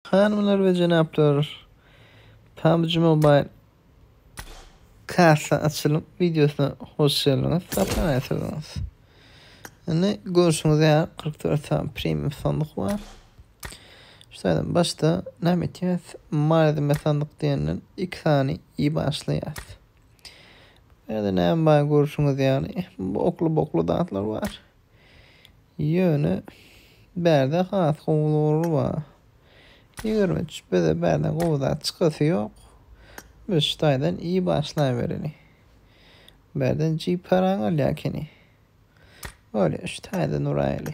Hanymlar we jenaplar, PUBG Mobile kassa açylym wideosyna hoş geldiňiz, sapaga getirdiňiz. Indi görşüňiz ýaly 44 sany premium sandyk bar. Şu taýdan başda näme etýäs? Malzeme sandyk diýenden 2 sany iýip başlaýas. Ýa-da näme bar görşüňiz ýaly, bokly-bokly zatlar bar. Ýöne bärde has gowulary bar. Ýigrimi üç bize bärde gowy zat çykasy ýok. Biz şu taýdan i başlaýbereli. Bärden jip paran galýar ekeni. Bolýa şu taýdan uraýaly.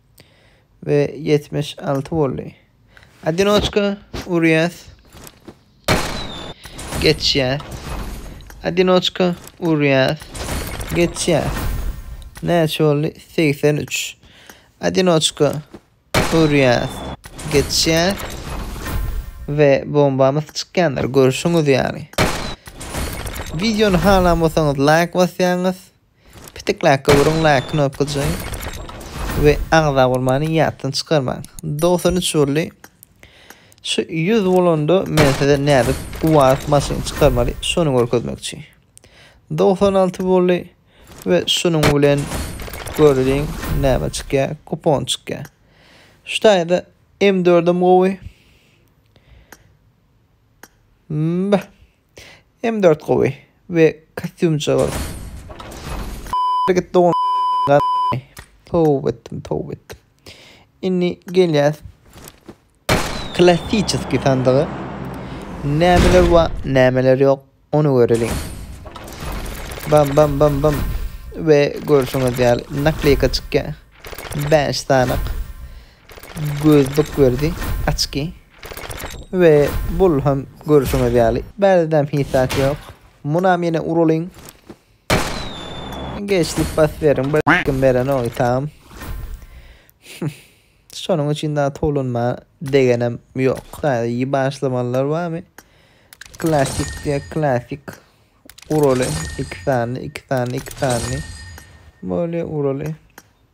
we ýetmiş alty boldy. Adinoçka urýas. Geçýä. Adinoçka urýas. Geçýä. Näçe boldy? Segsen üç. Adinoçka urýas. Geçýä. We bombamyz çykýandyr. Görşüňiz ýaly. Videony halan bolsaňyz laýk basýaňyz. Pitik läkge uruň, läkge nopga jaýyň we agza urmany ýatdan çykarmaň. Dogsan üç boldy. Şu ýüz bolanda men size nädip uwazyp maşyn çykarmaly şony görkezmekçi. Dogsan alty boldy we şunuň bilen göreliň näme çykýar, kupon çykýar. Şu taýda M dördem gowy. Mmbah. M dört gowy we kostýumçygyz. Git dogan Towba etdim, towba etdim. Indi gelýäs klassiçeskiý sandyga. Nämeler bar, nämeler ýok, ony göreliň. Bam bam bam bam. We görşüňiz ýaly nakleyka çykýar. 5 sanak. Gözlük berdi, açki. We bul hem görüşüňiz ýaly. Bärdem hiç zat ýok. Munam ýene uralyň. Geç diýip bas beriň. Bir kim berenok tam. Şonuň üçin daha tolunma degenem ýok. Sadece başlamanlar barmy? Klasik diye klasik. Uraly iki sanly, iki sanly, iki sanly. Böyle uraly.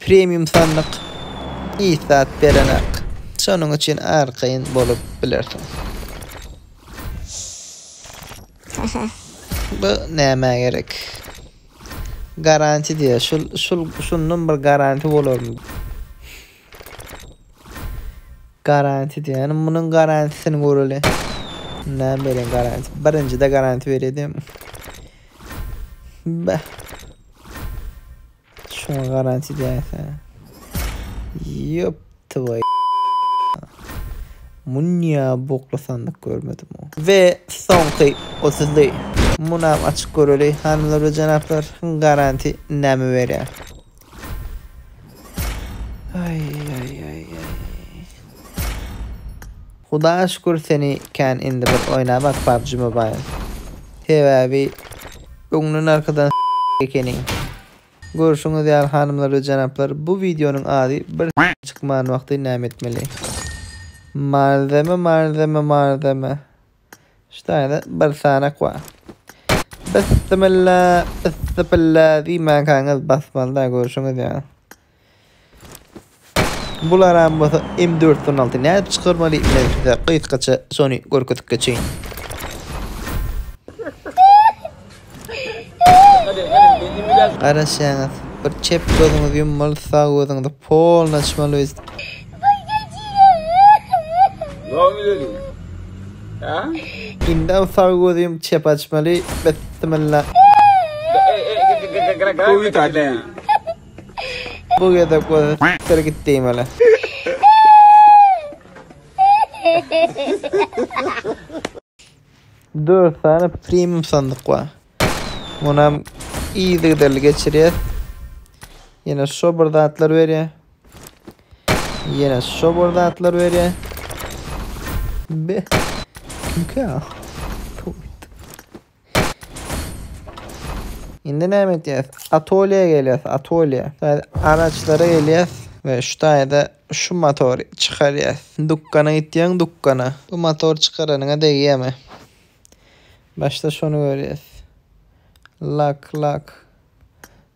Premium sandyk hiç zat berenak. Şonuň üçin arkaýyn bolup bilersiňiz. Bu näme gerek? Garanti diýýär. Şul şul şundan bir garanti bolarmy? Garanti diýýän, munuň garantisini göreli. Näme beren garanti? Birinjide garanti berýärdim. Bä. Şuňa garanti diýýärsen. Ýop, tvoý. Munya bokly sandyk görmedim o. Ve soňky 30-ly. Munam açyk göreli. Hanımlar ve janaplar garanti näme berýär? Aý aý aý aý. Hudaga şükür seni kän indi bir oýnabak PUBG Mobile. Sebäbi öňden arkadan s**k ekeniň. Görşüňiz ýaly hanymlar we jenaplar bu wideonyň ady bir s**k çykman wagty näme etmeli. Malzeme malzeme malzeme. Ştaýny bir sanak wa. Bissimilla, issipilla diýmänkäňiz basmaly-da, görşüňiz ýaly. Bularam bolsa M416 nädip çykarmaly, men size gysgaça şony görkezip geçeýin. Garaşýaňyz bir çep gözüňizi ýummaly sag gözüňizi polny açmaly biz. Indi sag gözi ýum çep açmaly bismillah. Bu gezek gözi sikdir git diýmeli. Dört sany premium sandyk bar. Muny hem yzygiderli geçirýär. Ýene şo bir zatlar berýär. Ýene şo bir zatlar berýär. Be. Kimkä? Indi näme edýäs? Atolýa gelýäs, atolýa. Araçlara gelýäs we şu taýda şu motory çykarýas. Dukana gitýäň, dukana. Bu motor çykaranyňa degýämi? Başda şony görýäs. Lak, lak.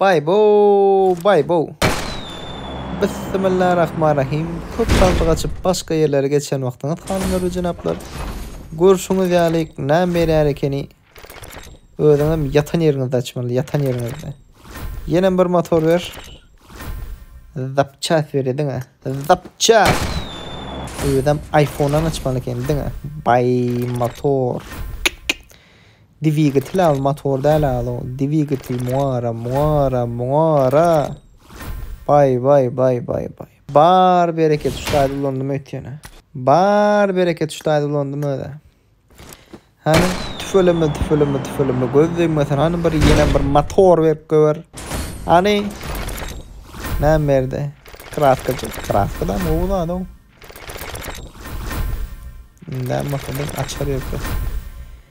Baý bow, baý bow. Bissimillarahmanrahim. Köp sandyk açyp başga ýerlere geçen wagtyňyz hanymlar jenaplar. Görşüňiz ýaly näme berýär ekeni. Özüňem ýatan ýeriňizde açmaly, ýatan ýeriňizde. Ýenem bir motor ber. Zapças ber ediňe. Zapças. Özüm iPhone-dan açmaly eken diňe. Bay motor. Dwigitel al motor däl alo dwigitel muara muara muara bay bay bay bay bay bar bereket şu taýda ulandym öýtýänä bar bereket şu taýda ulandym özä hany tüfeleme tüfeleme tüfeleme göz degmesin hany bir ýene bir motor berip göber hany näme berdi kratkajyk kratkada gowy zada o indä motor açar ýökes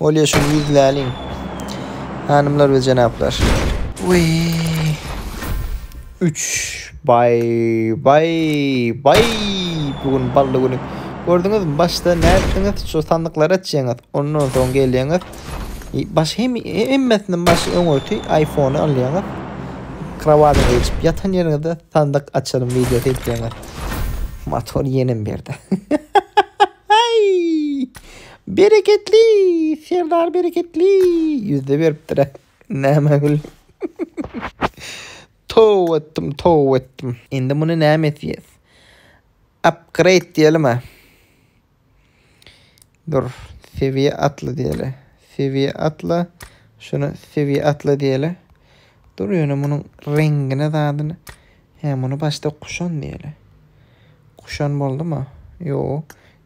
Bolýa şu ýüz läliň. Hanymlar we jenaplar. Uy. 3 bay bay bay bu gün bally güni. Gördüňiz mi başda nätdiňiz şu sandyklary açýaňyz. Ondan soň gelýäňiz. Baş hem hemmesinden baş öňürti iPhone-y alýaňyz. Krawadyňa geçip ýatan ýeriňizde sandyk açalım wideosy edýäňiz. Motor ýenem berdi. Aý! Bereketli! Serdar bereketli! Ýüzde beripdir-ä. Näme gül. Toba etdim, toba etdim. Indi muny näme etýäs? Upgrade diýelim-ä. Dur, sewiýe atla diýeli. Sewiýe atla. Şuny sewiýe atla diýeli. Dur ýöne munuň reňgine zadyny. Hä, muny başda Kuşan diýeli. Kuşan boldumy? Ýoo.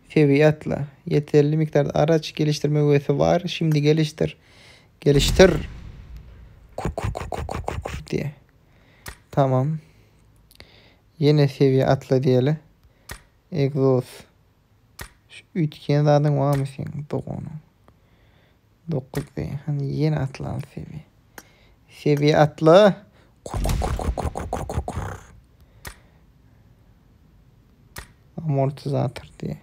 Fewi atla. Ýeterli mikdarda araç, gelişdirme wesi bar. Şindi gelişdir. Gelişdir! Kur-kur-kur-kur-kur-kur-kur diýe. Tamam. Ýene Fewi atla diýeli. Egzoz. Şu üýtgeýän zadyň barmy seň doganyň? Dokuz be, hany ýene atlan Sebi. Sebi atla! Kur-kur-kur-kur-kur-kur-kur-kur-kur. Amortizator diýe.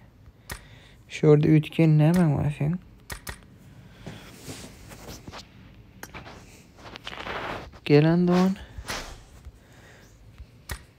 Şu ýerde üýtgeýän nämäň bar seň? Gelen dogan.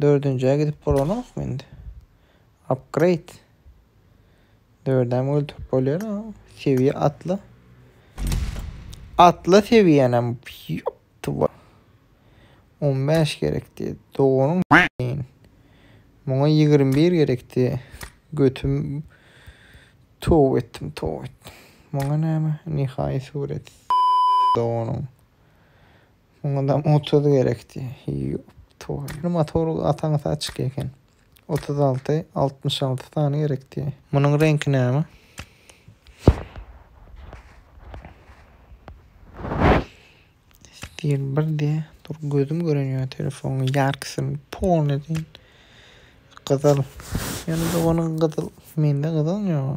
Dördünjä gidip bolanokmy indi? Upgrade. Dördäm öldürip bolýar. Sewiýe atla. Atla sewiýänem. Ýoptywa. 15 gerekdi. Doganyň s**in. Muňa 21 gerekdi. Götüm tow etdim, tow etdim. Muňa näme? Nihai surat. S**in doganyň. Şoňadam otuz gerekdi. Ýop toý. Indi motor gataňysy açyk eken. Otuz alty, altmyş alty sany gerekdi. Munuň reňki näme? Stil bir diye. Dur gözüm gören ya telefonun yarkısını pon edin. Kızıl. Yani de onun kızıl. Mende kızıl yok.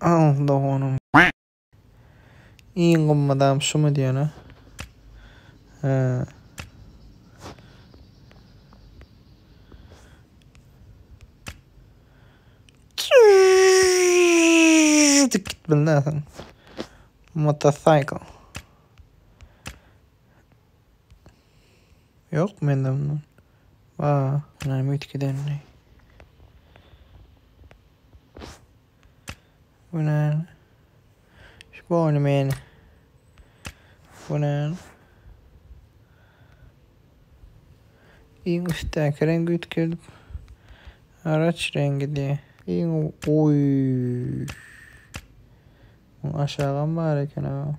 Al doganyň. Iň gymmat adam şumy diýene. He. Dik git bilnäsiň. Motocycle. Yok mende bundan. Ba. Näme üýtgedendi? Bu näme? Şu boýny men. Bu näme? Iň üstdäki reňgi üýtgedip. Araç rengi diye. Iň oy. Aşağam bar eken ha.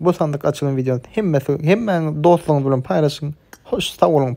Bu sandyk açylan videony hemmesi hemmäň dostlaryňyz bilen paýlaşyň. Hoş sag boluň.